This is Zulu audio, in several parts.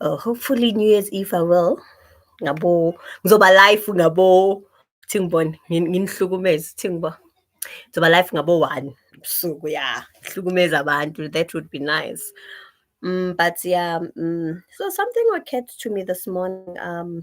Oh, hopefully New Year's Eve I will. Ngabo ngizoba live ngabo thingibone nginihlukumeze thingibo. Ngizoba live ngabo 1 ebusuku yeah. Hlukumeza abantu that would be nice. Mm, but yeah, mm, so something occurred to me this morning. Um,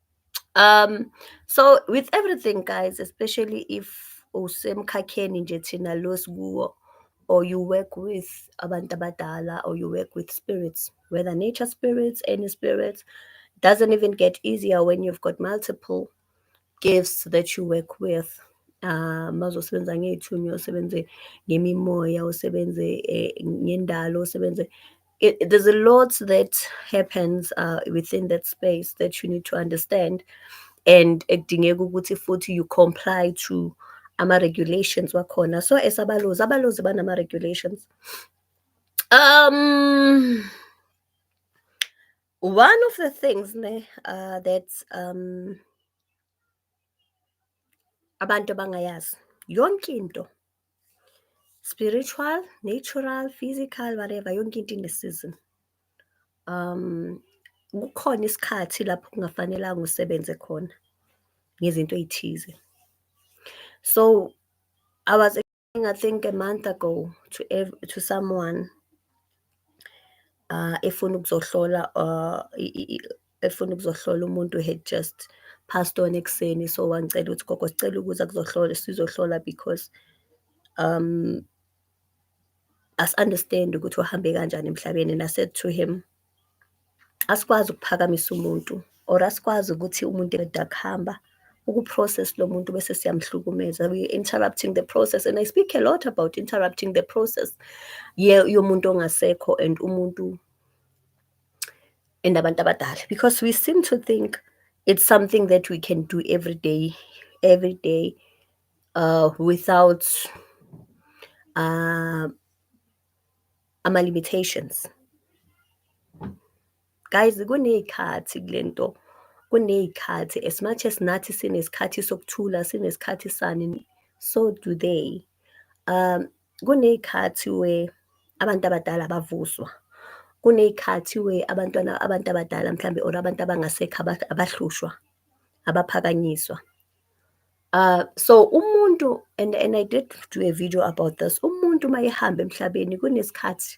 Um, so with everything, guys, especially if usemkhakheni nje thina lo sikuwo or you work with abantu abadala or you work with spirits, whether nature spirits, any spirits, doesn't even get easier when you've got multiple gifts that you work with. Um, mazosebenza ngey'thunywa usebenze ngemimoya usebenze eh, ngendalo usebenze it, it, there's a lot that happens uh, within that space that you need to understand and ekudingeka ukuthi futhi you comply to ama-regulations wakhona so as abalozi abalozi banama-regulations um one of the things ne, uh, that um abantu abangayazi yonke into Spiritual, natural, physical, whatever, yonke into ine-season. Um, kukhona isikhathi lapho kungafanelanga usebenze khona ngezinto ey'thize. So I was explaining, I think a month ago to ev- to someone uh, efuna ukuzohlola uh, i- i- i- efuna ukuzohlola umuntu had just passed on ekuseni so wangicela ukuthi gogo sicela ukuza kuzohlola sizohlola because um asi-understand ukuthi uhambe kanjani emhlabeni and I said to him asikwazi ukuphakamisa umuntu or asikwazi ukuthi umuntu eda kuhamba ukuprocess lo muntu bese siyamhlukumeza we interrupting the process and I speak a lot about interrupting the process yomuntu ongasekho and umuntu and abantu abadala because we seem to think it's something that we can do every day every day uh, without uh, ama limitations guys kuney'khathi kule nto kuney'khathi as much as nathi sinesikhathi sokuthula sinesikhathi sani so do they um kuney'khathi where abantu abadala bavuswa, kuney'khathi where abantwana abantu abadala mhlawumbe or abantu abangasekho abahlushwa, abaphakanyiswa. Uh, so umuntu and, and I did do a video about this, umuntu uma ehamba emhlabeni kunesikhathi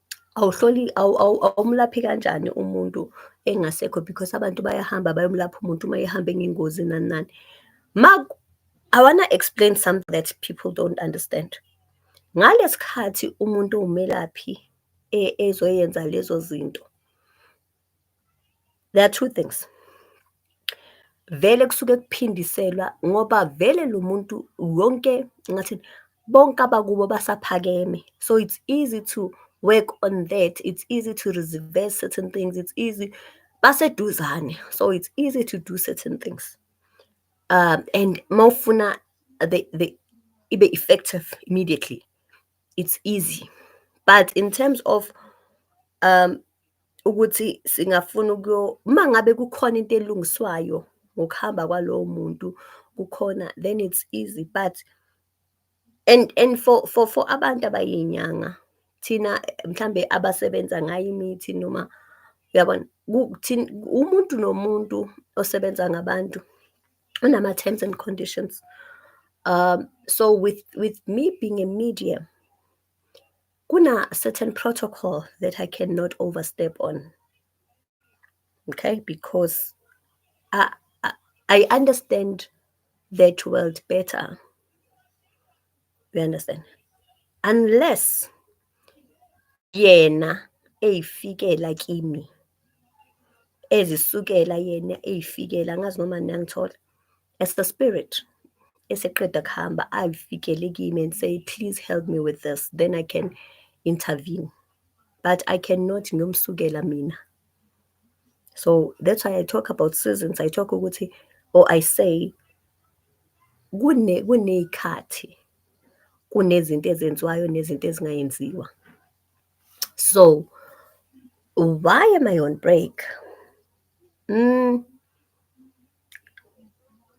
awuhloli awumlaphi kanjani umuntu engasekho because abantu bayahamba bayomlapha umuntu uma ehambe ngengozi nani nani ma i wanna explain something that people don't understand ngalesikhathi umuntu umelaphi e, ezoyenza lezo zinto There are two things. Vele kusuke kuphindiselwa ngoba vele lo muntu wonke ngathi bonke abakubo basaphakeme. So it's easy to work on that. It's easy to reverse certain things. It's easy baseduzane. So it's easy to do certain things. Um and mawufuna the the ibe effective immediately. It's easy. But in terms of um ukuthi singafuna ukuyo uma ngabe kukhona into elungiswayo ngokuhamba kwalowo muntu kukhona then it's easy but and and for for for abantu abayinyanga thina mhlambe abasebenza ngayo imithi noma uyabona umuntu nomuntu osebenza ngabantu unama terms and conditions um so with with me being a medium Kuna certain protocol that I cannot overstep on. Okay, because I, I, I understand that world better. You understand? Unless yena eyifikela kimi ezisukela yena eyifikela angazi noma niyangithola as the spirit eseqeda kuhamba ayifikele kimi and say please help me with this then i can intervene but i cannot ngiyomsukela mina so that's why i talk about seasons i talk ukuthi or i say kune kuney'khathi kunezinto ezenziwayo nezinto ezingayenziwa So, why am I on break? Mm.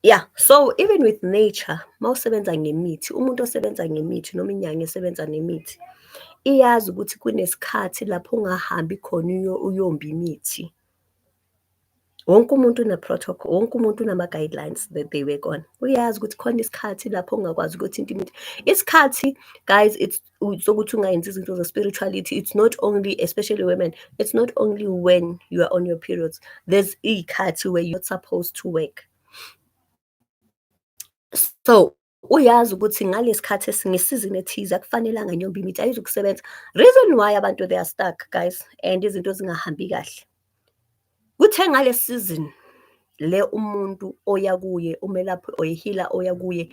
Yeah, so even with nature, mawusebenza ngemithi, umuntu osebenza ngemithi noma inyanga esebenza nemithi, iyazi ukuthi kunesikhathi lapho ungahambi khona uyomba imithi. wonke umuntu une-protocol wonke umuntu unama-guidelines that they work on uyazi ukuthi khona isikhathi lapho ungakwazi ukuthi into imithi isikhathi guys it's sokuthi ungayenzi izinto ze-spirituality it's not only especially women it's not only when you are on your periods there's iy'khathi where you're not supposed to work so Uyazi ukuthi ngalesikhathi esingesizini ethize akufanelanga nyomba imithi ayizukusebenza. Reason why abantu they are stuck guys and izinto zingahambi kahle. Kuthe ngale season le umuntu oya kuye umelaphi oyihila oya kuye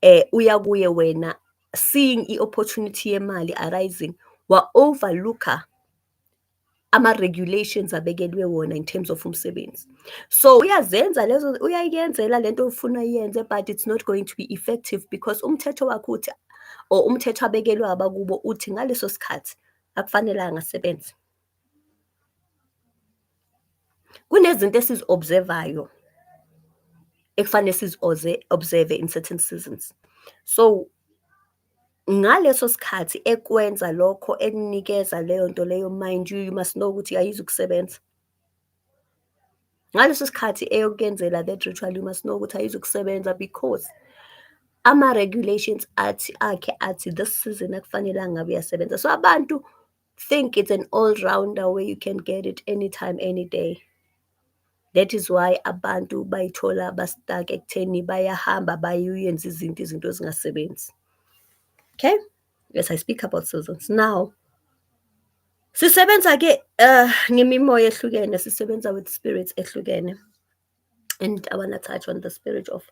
eh uya kuye wena seeing i-opportunity yemali arising wa-overlooker ama-regulations abekelwe wona in terms of umsebenzi so uyazenza lezo uyayenzela lento ofuna yenze but it's not going to be effective because umthetho wakho uthi or umthetho abekelwe abakubo uthi ngaleso sikhathi akufanelanga asebenze kunezinto esizi-observayo ekufanele sizi-observe in certain seasons so Ngaleso sikhathi ekwenza lokho ekunikeza leyo nto leyo mind you, you must know ukuthi ayizukusebenza. Ngaleso sikhathi eyokuyenzela that ritual you must know ukuthi ayizukusebenza because ama-regulations athi akhe athi this season akufanelanga ngabe uyasebenza. So abantu think it's an all rounder where you can get it anytime any day that is why abantu bayithola bastake ekutheni bayahamba bayuyenza izinto izinto ezingasebenzi okay yes i speak about seasons now sisebenza ke uh, ngemimoya ehlukene sisebenza with spirits ehlukene and I want to touch on the spirit of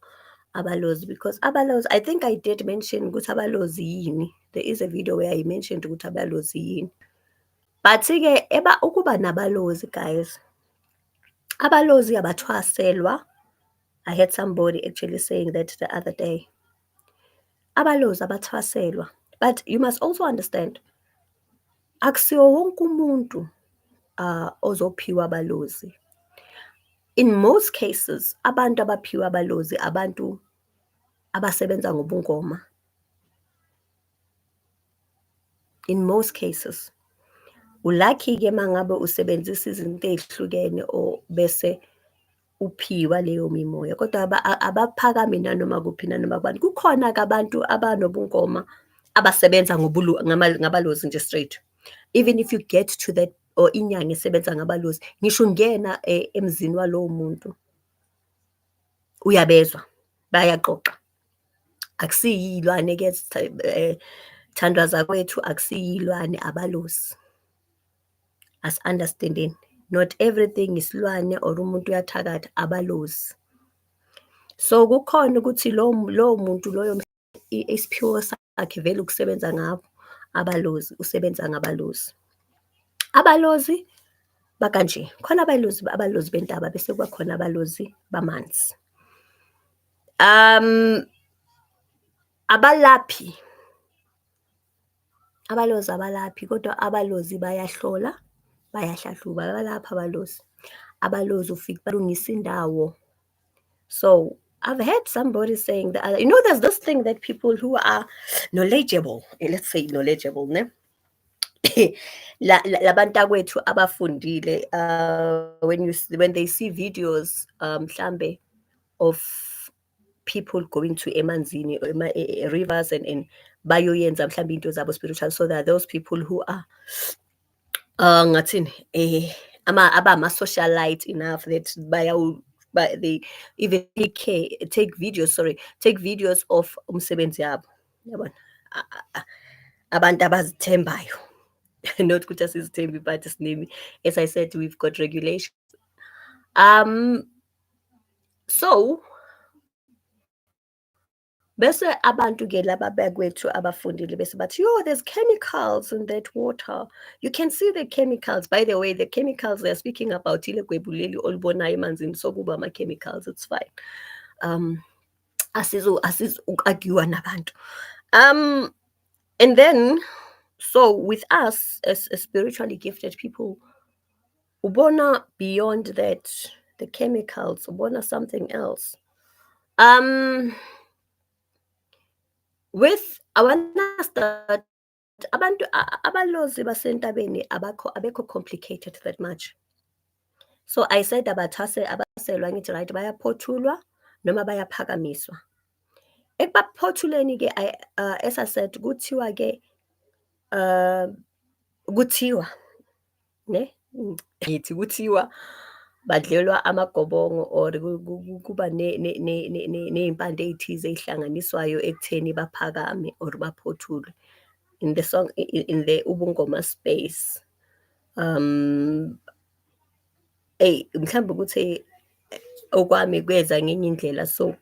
abalozi because abalozi I think I did mention ukuthi abalozi yini there is a video where I mentioned ukuthi abalozi yini but ke eba ukuba nabalozi guys abalozi abathwaselwa I had somebody actually saying that the other day abalozi abathwaselwa but you must also understand akusiwo wonke umuntu uh, ozophiwa abalozi in most cases abantu abaphiwa abalozi abantu abasebenza ngobungoma in most cases ulucky-ke uma ngabe usebenzisa izinto ey'hlukene or bese uphiwa leyo mimoya kodwa abaphakami nanoma kuphi nanoma kubani kukhona-ke abantu abanobungoma abasebenza ngabalozi nje straight even if you get to that or inyanga esebenza ngabalozi ngisho ungena eh, emzini walowo muntu uyabezwa bayaxoxa akusiyilwane ke eh, thandwa zakwethu akusiyilwane abalozi asi-understandeni not everything isilwane or umuntu uyathakatha abalozi so kukhona ukuthi lowo muntu loyo isiphiwo sakhe vele ukusebenza ngabo abalozi usebenza ngabalozi abalozi bakanje khona abalozi abalozi bentaba bese kuba khona abalozi bamanzi um abalaphi Abalozi abalaphi kodwa abalozi bayahlola, bayahlahluba, abalaphi abalozi. Abalozi ufike balungisa indawo. So I've heard somebody saying that, you know, there's this thing that people who are knowledgeable, eh, let's say knowledgeable, ne? labantakwethu abafundile uh, when you when they see videos um, mhlambe of people going to emanzini ema e, e, rivers and and bayoyenza mhlawumbe into zabo spiritual so that those people who are uh ngathini eh ama abama socialite enough that bayawu by the even take care, take videos sorry take videos of umsebenzi yabo yabona abantu abazithembayo not ukuthi asizithembi but sinemi as i said we've got regulations um so bese abantu ke laba bakwethu abafundile bese bathi yo there's chemicals in that water you can see the chemicals by the way the chemicals they're speaking about ile gwebu leli olubonayo emanzini sokuba ama-chemicals it's fine um asizo asizo ukagiwa nabantu um and then so with us as, as spiritually gifted people Ubona beyond that the chemicals, ubona something else. Um with I wanna start abantu abalozi basentabeni abakho abekho complicated that much so i said abathase abaselwa ngithi right bayaphothulwa noma bayaphakamiswa ekubaphothuleni ke uh, as i said kuthiwa ke uh, kuthiwa ne ngithi kuthiwa badlelwa amagobongo or kuba ney'mpande ey'thize ey'hlanganiswayo ekutheni baphakame or baphothulwe in the song in the ubungoma space um Eyi mhlawumbe ukuthi okwami kweza ngenye indlela so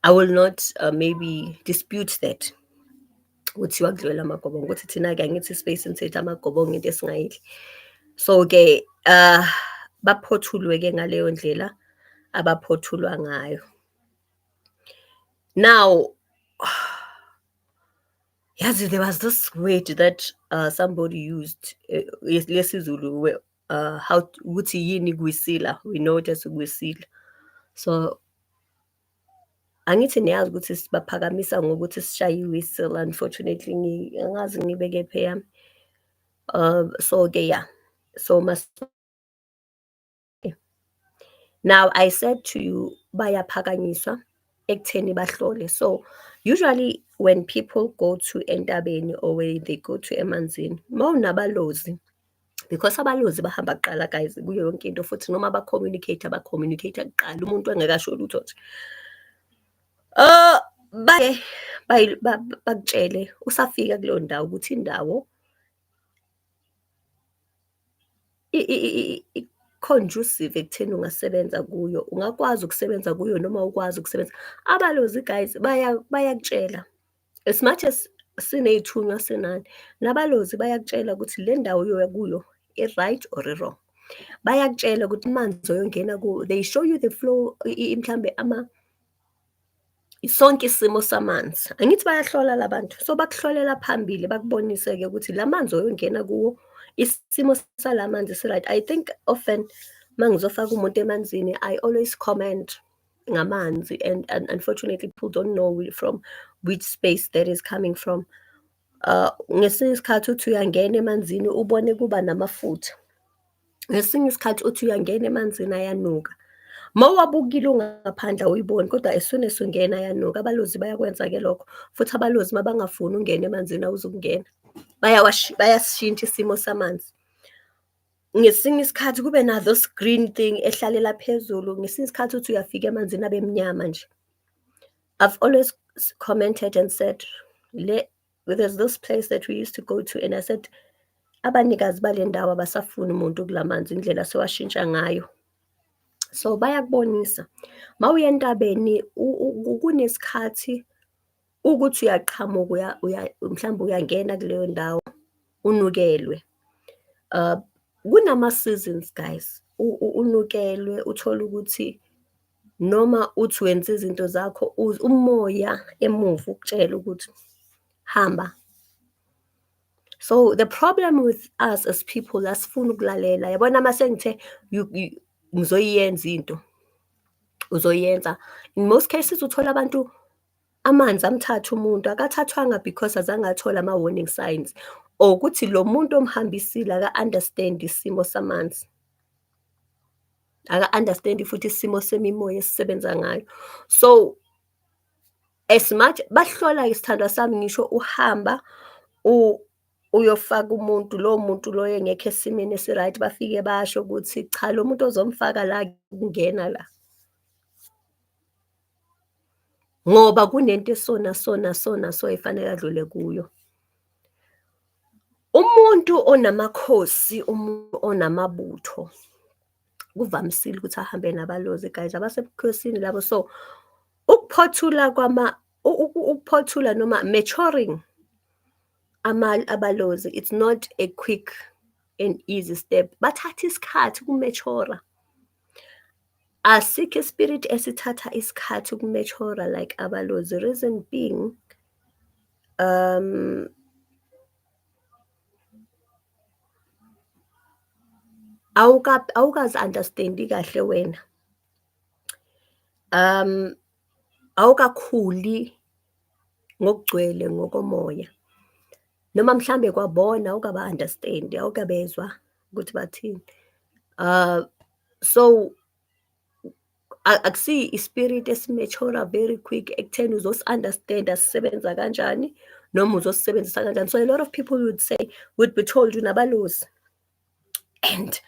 I will not uh, maybe dispute that ukuthi wakudlulela amagobongo ukuthi thina-ke angithi ispace nithetha amagobongo into esingayidli so-ke uh, baphothulwe-ke ngaleyo ndlela abaphothulwa ngayo now yazi there was this word that uh, somebody used uh, lesizulu uh, how ukuthi yini kwisila we know it as kwisila so angithi niyazi ukuthi sibaphakamisa ngokuthi sishaye i-whistle unfortunately angazi ngibeke phe yami um so-ke ya so mas now i said to you bayaphakanyiswa ekutheni bahlole so usually when people go to entabeni or when they go to emanzini mawunabalozi because abalozi bahamba kuqala guys kuyo yonke into futhi noma ba-communicate ba-communicate kuqala umuntu engekasho lutho nje uh, baye bakutshele usafika kuleyo ndawo ukuthi indawo conducive ekutheni ungasebenza kuyo ungakwazi ukusebenza kuyo noma ukwazi ukusebenza abalozi guys bayakutshela baya as much as siney'thunywa senani nabalozi bayakutshela ukuthi le ndawo oyoya kuyo i-right or i-wrong bayakutshela ukuthi amanzi oyongena kuwo they show you the flow mhlambe ama sonke isimo samanzi angithi bayahlola labantu so bakuhlolela phambili bakubonise-ke ukuthi la manzi oyongena kuwo isimo salamanzi si-right i think often uma ngizofaka umuntu emanzini i always comment ngamanzi and, and unfortunately people don't know from which space that is coming from uh ngesinye isikhathi uthi uyangena emanzini ubone kuba namafutha ngesinye isikhathi uthi uyangena emanzini ayanuka ma wabukile ungaphandle awuyiboni kodwa as soon as ungena ayanuka abalozi bayakwenza ke lokho futhi abalozi ma bangafuni ungena emanzini awuzukungena bayasishintsha isimo samanzi ngesinye isikhathi kube nazo screen thing ehlalela phezulu ngesinye isikhathi uthi uyafika emanzini abe mnyama nje i've always commented and said le there's this place that we used to go to and i said abanikazi bale ndawo abasafuni umuntu kulamanzi indlela sewashintsha ngayo so bayakubonisa mawuye entabeni kunesikhathi ukuthi uyaqhamuka mhlawumbe uyangena kuleyo ndawo unukelwe uh, kunama-seasons guys unukelwe uthole ukuthi noma uthi wenza izinto zakho umoya emuva ukutshela ukuthi hamba so the problem with us as people asifuni ukulalela yabona uma sengithe ngizoyiyenza into uzoyenza in most cases uthola abantu Amanzi amthatha umuntu akathathwanga because azange athole ama-warning signs or ukuthi lo muntu omhambisile aka-understand isimo samanzi aka-understand futhi isimo semimoya esisebenza ngayo so as much bahlola isithandwa sami ngisho uhamba uyofaka umuntu lowo muntu loyo engekho esimeni esi-right bafike basho ukuthi cha lo muntu ozomfaka la kungena la ngoba kunento esona sona sona so efanele adlule kuyo. Umuntu onamakhosi, umuntu onamabutho kuvamisile ukuthi ahambe nabalozi guys abasebukhosini labo so ukuphothula kwama ukuphothula noma maturing ama abalozi it's not a quick and easy step bathatha isikhathi kumeshora Asikho ispirit esithatha isikhathi uku-mature like abalozi reason being um awukazi understand-i kahle wena um awukakhuli ngokugcwele ngokomoya noma mhlambe kwabona awukaba-understand-i awukabezwa ukuthi bathini um so akusiyi ispirit esimechora very quick ekutheni uzosi-understanda sisebenza kanjani noma uzosisebenzisa kanjani so a lot of people would say would be told unabalozi and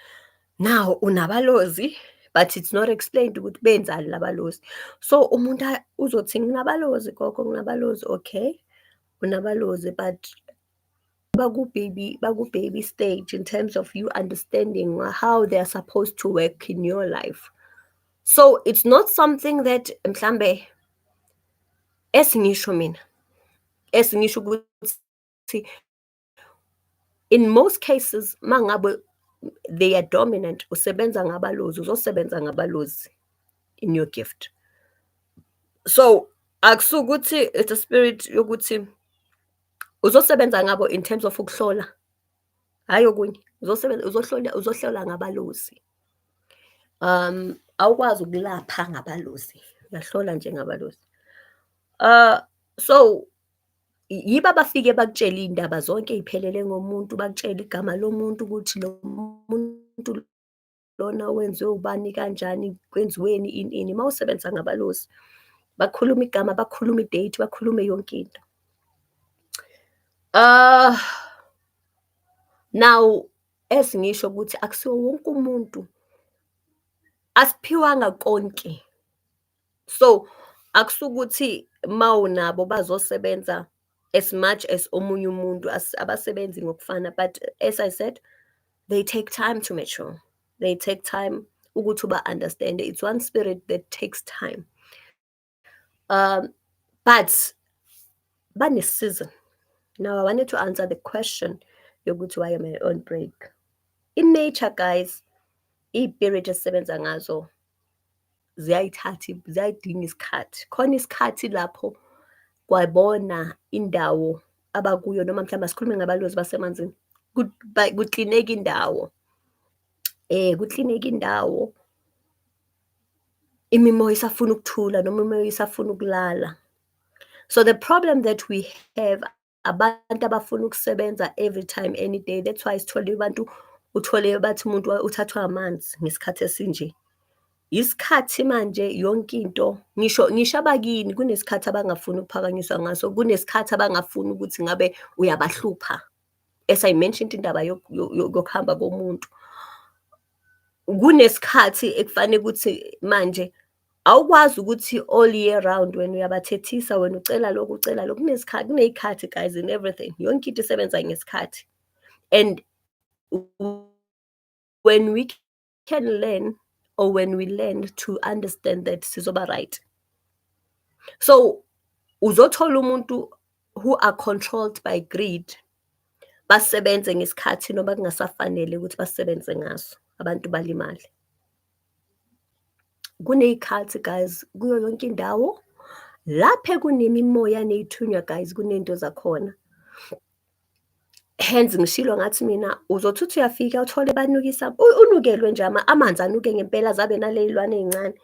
now unabalozi but it's not explained ukuthi benzani labalozi so umuntu uzothi nginabalozi gogo nginabalozi okay unabalozi but baku baby baku baby stage in terms of you understanding how they are supposed to work in your life so it's not something that mhlambe esingisho mina esingisho ukuthi in most cases mangabe they are dominant usebenza ngabalozi uzosebenza ngabalozi in your gift so akusukuthi it's a spirit yokuthi uzosebenza ngabo in terms of ukuhlola hayi okunye uzosebenza uzohlola uzohlola ngabalozi um awukwazi ukulapha ngabalozi uyahlola nje ngabalozi uh so yiba bafike bakutshela indaba zonke iphelele ngomuntu bakutshela igama lomuntu ukuthi lo muntu lona wenziwe ubani kanjani kwenziweni ini ini uma usebenza ngabalozi bakhuluma igama bakhuluma idate bakhulume yonke into uh, now esingisho ukuthi akusiwo wonke umuntu asiphiwanga konke so akusukuthi mawunabo bazosebenza as much as omunye umuntu abasebenzi ngokufana but as i said they take time to mature they take time ukuthi uba understand it's one spirit that takes time um but bane season now i wanted to answer the question yokuthi why am i on break in nature guys iy'pirit esisebenza ngazo ziyayithatha ziyayidinga isikhathi khona isikhathi lapho kwabona indawo abakuyo noma mhlawumbe asikhulume ngabalozi basemanzini kuklineka indawo eh kuklineka indawo imimoya isafuna ukuthula noma imimoya isafuna ukulala so the problem that we have abantu abafuna ukusebenza every time any day that's why sithole abantu uthole bathi umuntu uthathwa amanzi ngesikhathi esinje isikhathi manje yonke into ngisho ngisho abakini kunesikhathi abangafuni ukuphakanyiswa ngaso kunesikhathi abangafuni ukuthi ngabe uyabahlupha as i mentioned indaba yokuhamba komuntu kunesikhathi ekufanele ukuthi manje Awukwazi ukuthi all year round wena uyabathethisa wena ucela lokhu ucela lokhu kunesikhathi kuneyikhathi guys in everything yonke into isebenza ngesikhathi and when we can learn or when we learn to understand that sizoba right so uzothola umuntu who are controlled by greed basebenze ngesikhathi noma kungasafanele ukuthi basebenze ngaso abantu balimale kuney'khathi guys kuyo yonke indawo lapho kunemimoya ney'thunywa guys kuney'nto zakhona hence ngishilo ngathi mina uzothi uthi uyafika uthole banukisa unukelwe nje amanzi anuke ngempela zabe naley'lwane ey'ncane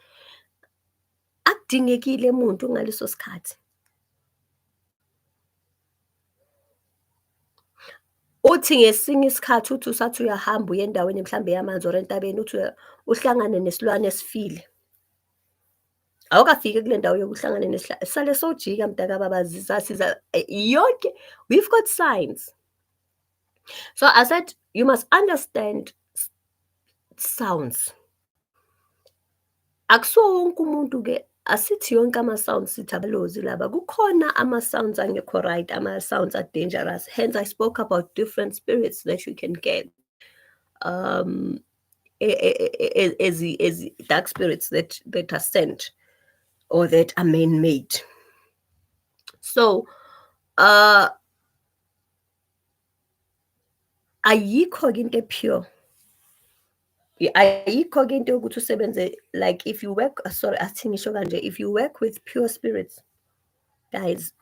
Akudingekile muntu ngaleso sikhathi. Uthi ngesinye isikhathi uthi usathi uyahamba uye endaweni mhlawumbe yamanzi or entabeni uthi uhlangane nesilwane esifile. Awukafiki kule ndawo yokuhlangana nesihlalo. Sale sojika mntaka baba ziza siza eh, yonke we've got signs. So I said you must understand sounds. Akusiwo wonke umuntu-ke, asithi yonke ama-sound sithi abalozi laba. Kukhona ama-sounds angekho right, ama-sounds a-dangerous, hence I spoke about different spirits that you can get. Um, as as dark spirits that that are sent or that are man-made. So, uh, ayikho-ke into e-pure ayikho-ke into yokuthi usebenze like if you work sorry athi ngisho kanje if you work with pure spirits guys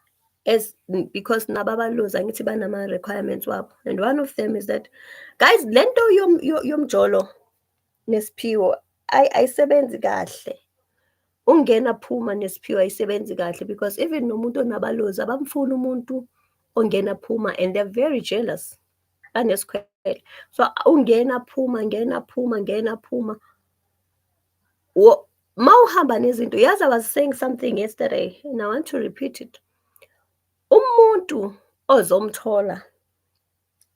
as because nabo abalozi angithi banama-requirements wabo and one of them is that guys le nto yomjolo nesiphiwo ayi ayisebenzi kahle ungena phuma nesiphiwo ayisebenzi kahle because even nomuntu onabalozi abamfuni umuntu ongena phuma and they're very jealous banesikhwele so ungena phuma ngena phuma ngena phuma ma uhamba nezinto yazi i was saying something yesterday and i want to repeat it umuntu ozomthola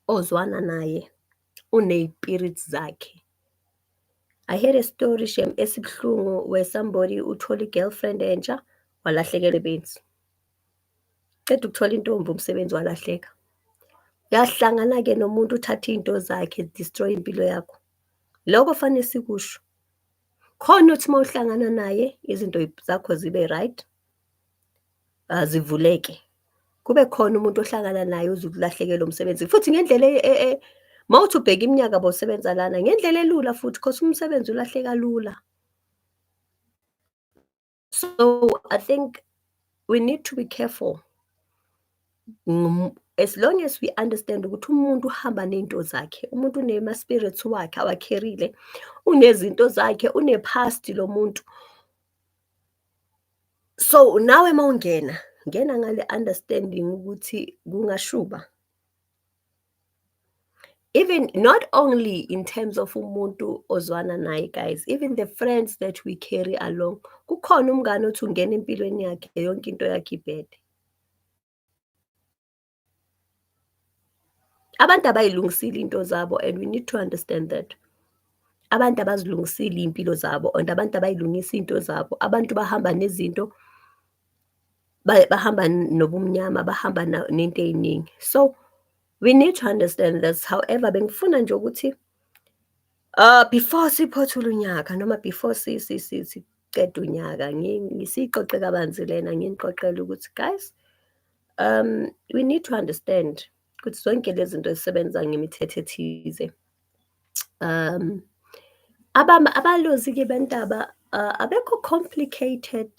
ozwana naye uneypirit zakhe. I heard a story shem esibuhlungu where somebody uthole i-girlfriend entsha walahlekelwa benzi. Qeda ukuthola intombi umsebenzi walahleka. Uyahlangana-ke nomuntu uthathe iy'nto zakhe destroy impilo yakho. Lokho fanele sikusho. Khona uthi uma uhlangana naye izinto zakho zibe right. azivuleke kube khona umuntu ohlangana naye uzukulahlekelwa umsebenzi futhi ngendlela e, e, e, mawuthi ubheka iminyaka bosebenza lana ngendlela elula futhi cause umsebenzi ulahleka lula so i think we need to be careful as long as we understand ukuthi umuntu uhamba nezinto zakhe umuntu unema spirits wakhe awakherile unezinto zakhe unepast lo muntu so nawe uma ungena ngena ngale understanding ukuthi kungashuba even not only in terms of umuntu ozwana naye guys even the friends that we carry along kukhona umngane othi ungena empilweni yakhe yonke into yakhe ibhede abantu abayilungisile into zabo and we need to understand that abantu abazilungisile iy'mpilo zabo and abantu abayilungisa iy'nto zabo abantu bahamba nezinto bahamba nobumnyama bahamba nento ey'ningi so we need to understand this however bengifuna nje ukuthi Uh, before siphothula unyaka noma before siqeda unyaka ngisiqoqe kabanzi lena nginiqoqele ukuthi guys um we need to understand ukuthi zonke lezi zinto zisebenza ngemithetho ethize um abalozi-ke bentaba uh, abekho complicated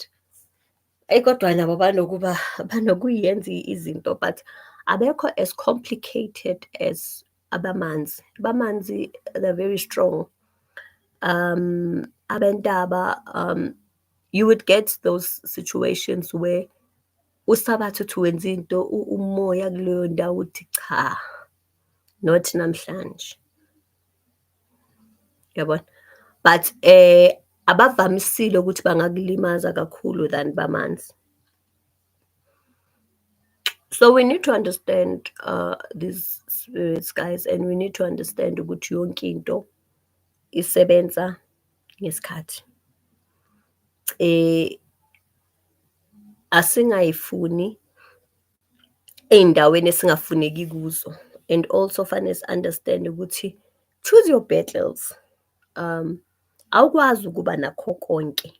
eyi kodwa nabo banokuba banokuyenza izinto but abekho as complicated as abamanzi bamanzi they're very strong um abentaba um you would get those situations where usabatha uthi wenza into umoya kuleyo ndawo uthi cha not namhlanje yabona but eh abavamisile ukuthi bangakulimaza kakhulu than bamanzi So we need to understand uh, these spirits guys and we need to understand ukuthi yonke into isebenza ngesikhathi. Eh asingayifuni ey'ndaweni esingafuneki kuzo and also fanele si-understand ukuthi choose your battles um awukwazi ukuba nakho konke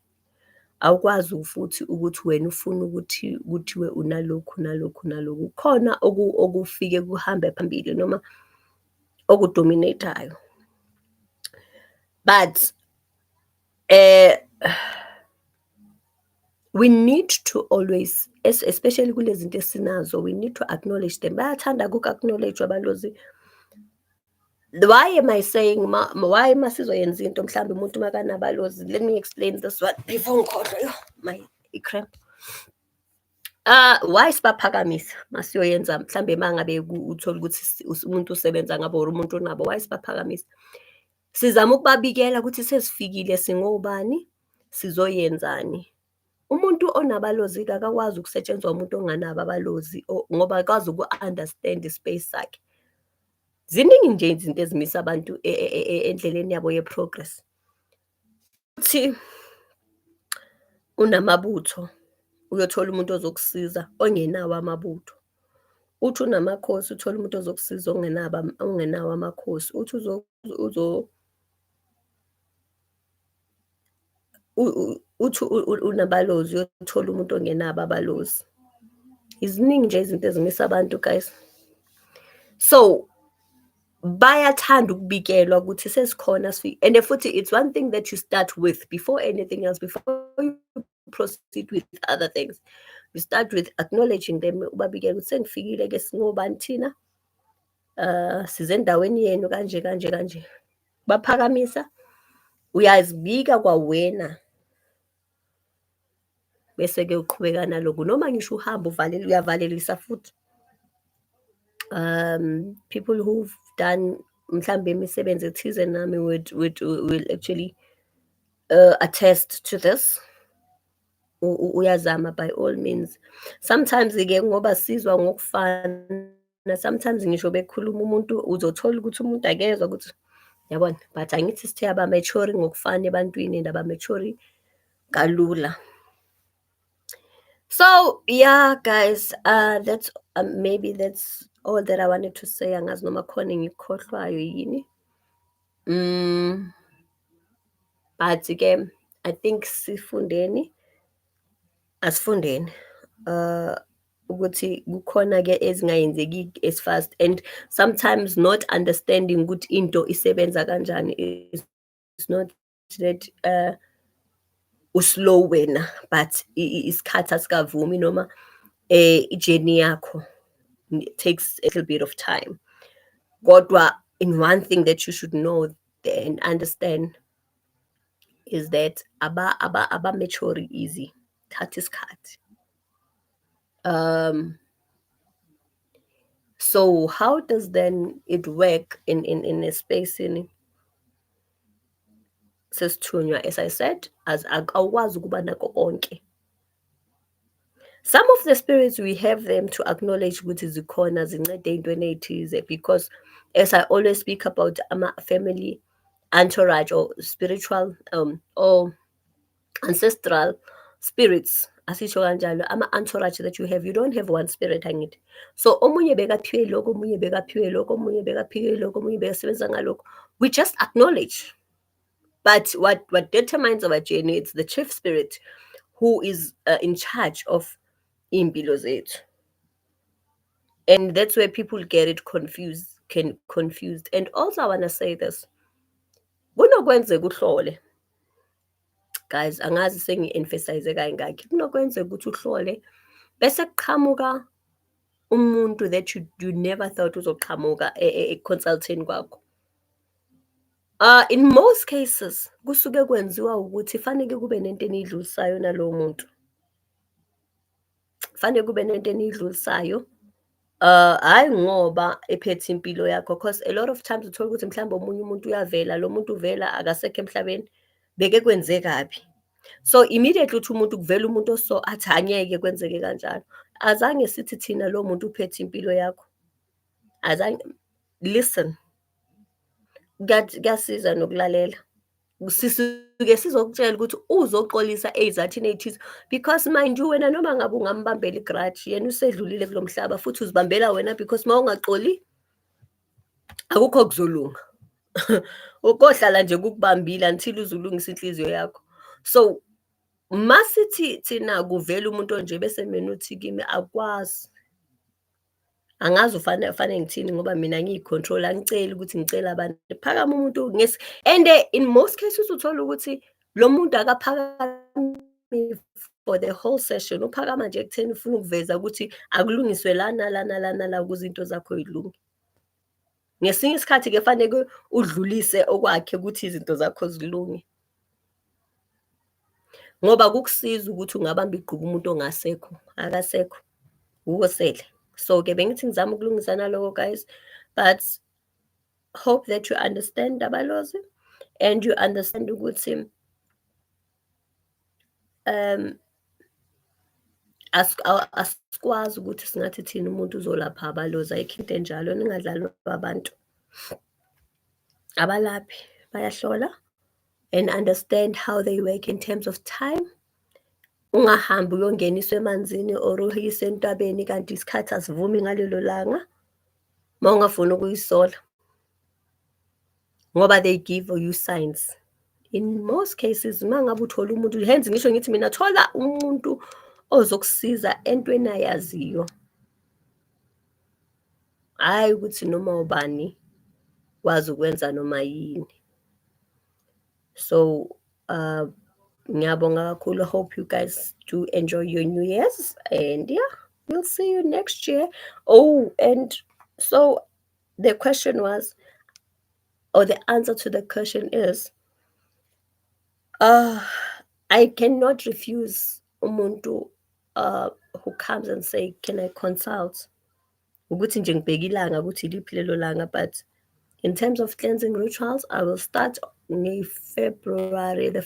Awukwazi futhi ukuthi wena ufuna ukuthi kuthiwe unalokhu nalokhu nalokhu. Kukhona okufike kuhambe phambili noma oku-dominate-ayo. But we need to always especially kulezinto esinazo, we need to acknowledge them. Bayathanda-ke uku-acknowledge-wa balozi. Why am I saying ma, why ma sizoyenza into mhlawumbe umuntu makanabalozi let me explain this one before ngikhohlwe yo my i-cramp Uh why sibaphakamisa masiyoyenza mhlambe mangabe uthola ukuthi umuntu usebenza ngabo or umuntu unabo why sibaphakamisa sizama ukubabikela ukuthi sesifikile singobani sizoyenzani Umuntu onabalozi akakwazi ukusetshenzwa umuntu onganabo abalozi ngoba akwazi uku-understand i-space sakhe. Ziningi nje izinto ezimisa abantu e, e, e, endleleni yabo ye-progress. Futhi unamabutho, uyothola umuntu ozokusiza ongenawo amabutho. Uthi unamakhosi, uthole umuntu ozokusiza ongenabo ongenawo amakhosi. Uthi uzo uthi unabalozi uyothola umuntu ongenabo abalozi iziningi nje izinto ezimisa abantu guys so bayathanda ukubikelwa ukuthi sesikhona and futhi it's one thing that you start with before anything else before you proceed with other things you start with acknowledging them ubabikela ukuthi sengifikile ke singobani thina uh sizendaweni yenu kanje kanje kanje baphakamisa uyazibika kwawena bese ke uqhubeka naloku noma ngisho uhamba uvalela uyavalelisa futhi um people who've done mhlambe imisebenzi ethize nami would would will actually uh, attest to this uyazama by all means sometimes ke ngoba sizwa ngokufana sometimes ngisho bekhuluma umuntu uzothola ukuthi umuntu akezwa ukuthi yabona but angithi sithe abamechori ngokufana ebantwini and abamechori kalula so yeah guys uh that's uh, maybe that's all that i wanted to say angazi noma khona engikhohlwayo yini Mm, but ke I think sifundeni asifundeni uh ukuthi kukhona ke ezingayenzeki as fast and sometimes not understanding ukuthi into isebenza kanjani is not that uh uslow wena but isikhathi asikavumi noma eh ijourney yakho takes a little bit of time kodwa in one thing that you should know and understand is that aba aba aba mature easy thatha isikhathi um so how does then it work in in in a space in sesithunywa as i said as awukwazi ukuba nako konke some of the spirits we have them to acknowledge ukuthi zikhona zincede ey'ntweni ey'thize because as i always speak about ama-family entourage or spiritual um or ancestral spirits asisho kanjalo ama-entourage that you have you don't have one spirit angithi so omunye bekaphiwe lokho omunye bekaphiwe lokho omunye bekaphiwe lokho omunye bekasebenza ngalokho we just acknowledge but what, what determines our journey it's the chief spirit who is uh, in charge of iy'mpilo zethu and that's where people get it confused can confused and also i want to say this kunokwenzeka uhlole Guys, angazi sengi-emphasize kayingakhi. Kunokwenzeka ukuthi uhlole bese kuqhamuka umuntu that you, you never thought uzoqhamuka e-consultini kwakho. Uh, in most cases kusuke kwenziwa ukuthi faneke kube nento enidlulisayo nalowo muntu. fanele kube nento eniyidlulisayo Uh, hhayi ngoba ephethe impilo yakho cause a lot of times uthola ukuthi mhlawumbe omunye umuntu uyavela lo muntu uvela akasekho emhlabeni beke kwenze kabi so immediately uthi umuntu kuvela umuntu oso athi angeke kwenzeke kanjalo azange sithi thina lo muntu uphethe impilo yakho azange listen kuyasiza nokulalela sisuke sizokutshela ukuthi uzoxolisa ey'zathini ey'thize because mind you wena noma ngabe ungambambela igrudge yena usedlulile kulo mhlaba futhi uzibambela wena because uma ungaxoli akukho kuzolunga ukohlala nje kukubambile until uzulungisa inhliziyo yakho so masithi thina kuvela umuntu onje bese mina uthi kimi akwazi angazi ufane ufane ngithini ngoba mina ngiyicontrol angiceli ukuthi ngicela abantu phakama umuntu ngesi and eh, in most cases uthola ukuthi lo muntu akaphakami for the whole session uphakama nje ekutheni ufuna ukuveza ukuthi akulungiswe lana lana lana la ukuze into zakho yilunge ngesinye isikhathi ke faneke udlulise okwakhe ukuthi izinto zakho zilunge ngoba kukusiza ukuthi ungabamba igqubu umuntu ongasekho akasekho wukosele so ke bengithi ngizama ukulungisa naloko guys but hope that you understand abalozi and you understand ukuthi Um, asikwazi ukuthi singathi thina umuntu uzolapha abalozi ayikho into enjalo ningadlali abantu abalaphi bayahlola and understand how they work in terms of time ungahambi uyongeniswa emanzini or uyise entabeni kanti isikhathi asivumi ngalelo langa uma ungafuni ukuyisola ngoba they give you signs in most cases uma ngabe uthola umuntu hence ngisho ngithi mina thola umuntu ozokusiza entweni ayaziyo hhayi ukuthi noma ubani wazi ukwenza noma yini so uh ngiyabonga kakhulu hope you guys do enjoy your new years and yeah we'll see you next year oh and so the question was or the answer to the question is uh, i cannot refuse umuntu uh, who comes and say can i consult ukuthi nje ngibheke ilanga ukuthi iliphi lelo langa but in terms of cleansing rituals i will start ngefebruary the